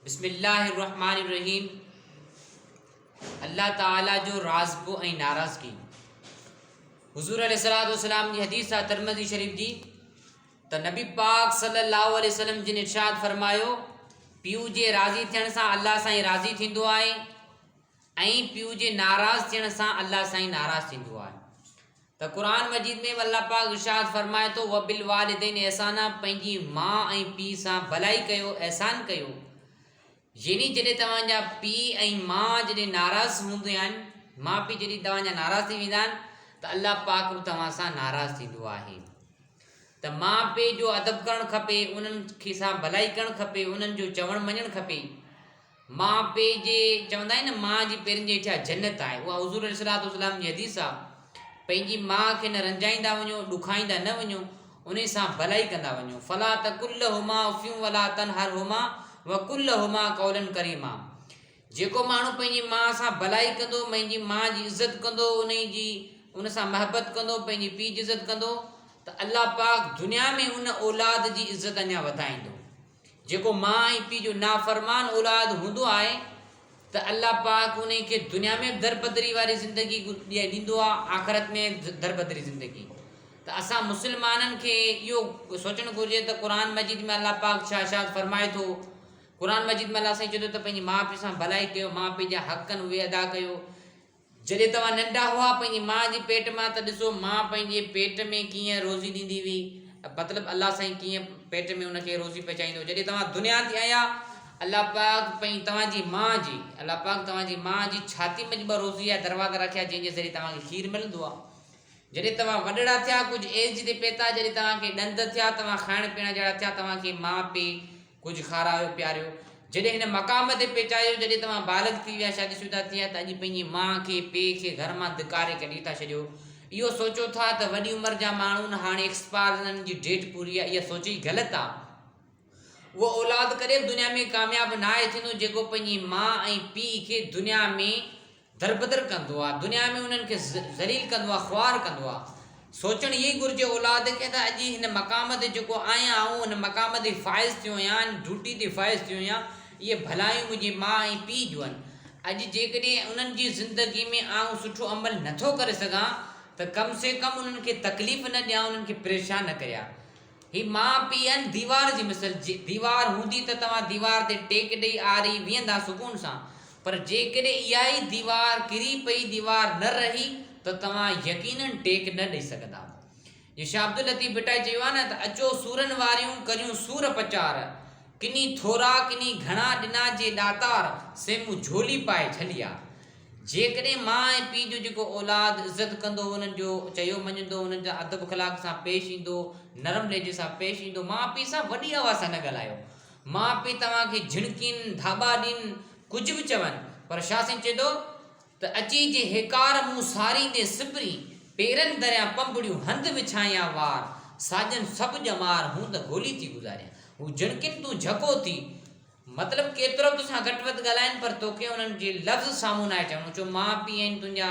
بسم الله الرحمٰن الرحيم الله تعالي جو رازگو ۽ ناراضگي حضور عليه الصلوۃ والسلام جي حديث آ ترمذي شريف جي ته نبي پاڪ صلي الله عليه وسلم جن ارشاد فرمايو پيو جي راضي ٿيڻ سان الله سائين راضي ٿيندو آهي ۽ پيء جي ناراض ٿيڻ سان الله سائين ناراض ٿيندو آهي ته قرآن مجيد ۾ به الله پاڪ ارشاد فرمائي ٿو وبالوالدين احسانا پنهنجي ماء ۽ پيء سان ڀلائي ڪيو احسان ڪيو يعني جڏهن توهان جا پيء ۽ ماء جڏهن ناراض هوندا آهن ماء پيء جڏهن توهان جا ناراض ٿي ويندا آهن ته الله پاڪ به توهان سان ناراض ٿيندو آهي ته ماء پيء جو ادب ڪرڻ کپي انهن کي سان ڀلائي ڪرڻ کپي انهن جو چوڻ مڃڻ کپي ماء پيء جي چوندا آهن نه ماء جي پيرن جي هيٺيان جنت آهي اها حضور عليه الصلوة والسلام جي حديث آ پنهنجي ماء کي نه رنجائيندا وڃو ڏکائيندا نه وڃو انهي سان ڀلائي ڪندا وڃو فلا تقل لهما اف ولا تنهرهما وقل لهما قولا ڪريما جيڪو ماڻهو پنهنجي ماء سان ڀلائي ڪندو پنهنجي ماء جي عزت ڪندو انهي جي ان سان محبت ڪندو پنهنجي پيء جي عزت ڪندو ته الله پاڪ دنيا ۾ ان اولاد جي عزت اڃا وڌائيندو جيڪو ماء ۽ پيء جو نافرمان اولاد هوندو آهي ته الله پاڪ انهي کي دنيا ۾ به دربدري واري زندگي ڏيندو آهي آخرت ۾ دربدري زندگي ته اسان مسلمانن کي اهو سوچڻ گهرجي ته قرآن مجيد ۾ الله پاڪ ڇا ارشاد فرمائي ٿو قرآن مجيد ۾ الله سائين چوي ٿو ته پنهنجي ماء پيء سان ڀلائي ڪيو ماء پيء جا حق آهن اهي ادا ڪيو جڏهن توهان ننڍا هئا پنهنجي ماء جي پيٽ مان ته ڏسو ماء پنهنجي پيٽ ۾ ڪيئن روزي ڏيندي هئي مطلب الله سائين ڪيئن پيٽ ۾ ان کي روزي پهچائيندو جڏهن توهان دنيا تي آيا الله پاڪ پنهنجي توهان جي ماء جي الله پاڪ توهان جي ماء جي ڇاتي منجهه ٻه روزي جا دروازا رکيا جنهن جي ذريعي توهان کي کير ملندو آ جڏهن توهان وڏڙا ٿيا ڪجهه ايج تي پهتا جڏهن توهان کي ڏند ٿيا توهان کائڻ پيئڻ جهڙا ٿيا توهان کي ماء پي ڪجهه کارايو پياريو. جڏهن هن مقام تي پهچايو جڏهن توهان بالغ ٿي ويا، شادي شده ٿي ويا ته اڄ پنهنجي ماء کي، پيء کي گهر مان ڌڪاري ڪڍي ٿا ڇڏيو. اهو سوچو ٿا ته وڏي عمر جا ماڻهو نه هاڻي ايڪسپائر انهن جي ڊيٽ پوري آهي اها سوچ ئي غلط آهي. اهو اولاد ڪڏهن به دنيا ۾ ڪامياب ناهي ٿيندو جيڪو پنهنجي ماء ۽ پيء کي دنيا ۾ دربدر ڪندو آ دنيا ۾ انهن کي ذليل ڪندو آ خوار ڪندو آ سوچڻ اهو ئي گهرجي اولاد کي ته اڄ هن مقام تي جيڪو آهيان آئون ان مقام تي فائز ٿيو آهيان ان ڊيوٽي تي فائز ٿيو آهيان اهي ڀلايون منهنجي ماء ۽ پيء جون آهن اڄ جيڪڏهن انهن جي زندگي ۾ آئون سٺو عمل نه ٿو ڪري سگهان ته ڪم سي ڪم انهن کي تڪليف نه ڏيان انهن کي پريشان نه ڪريان هي ماء پيء آهن ديوار جي مثل ديوار هوندي ته توهان ديوار تي ٽيڪ ڏئي آري ويهندا سڪون سان پر جيڪڏهن اها ئي ديوار ڪري پئي ديوار نه رهي ته توهان يقيناً ٽيڪ نه ڏئي سگهندا. جيئن شاهه عبداللطيف ڀٽائي چيو آهي نه ته اچو سورن واريون ڪريون سور پچار، ڪني ٿورا ڪني گهڻا ڏنا جي ڏاتار سي مون جهولي پائي جهليا. جيڪڏهن ماء ۽ پيء جو جيڪو اولاد عزت ڪندو انهن جو چيو مڃندو انهن سان ادب اخلاق سان پيش ايندو نرم لهجي سان پيش ايندو ماء پيء سان وڏي آواز سان نه ڳالهايو ماء پيء توهان کي جهڻڪين، ڌاٻا ڏين، ڪجهه به چون، پر شاهه سائين چئي ٿو ته اچي جي هيڪار مون ساريندين سپرين، پيرن دريان پنبڙيون هنڌ وڇائيان وار، ساڄن سڀ ڄمار هون ته گولي ٿي گذاريان. هو جهڻڪين تون جهڪو ٿي. مطلب ڪيترو به تو سان گهٽ وڌ ڳالهائين پر توکي انهن جي لفظ سامهون ناهي چوڻو چو ماء پيء آهن تنهنجا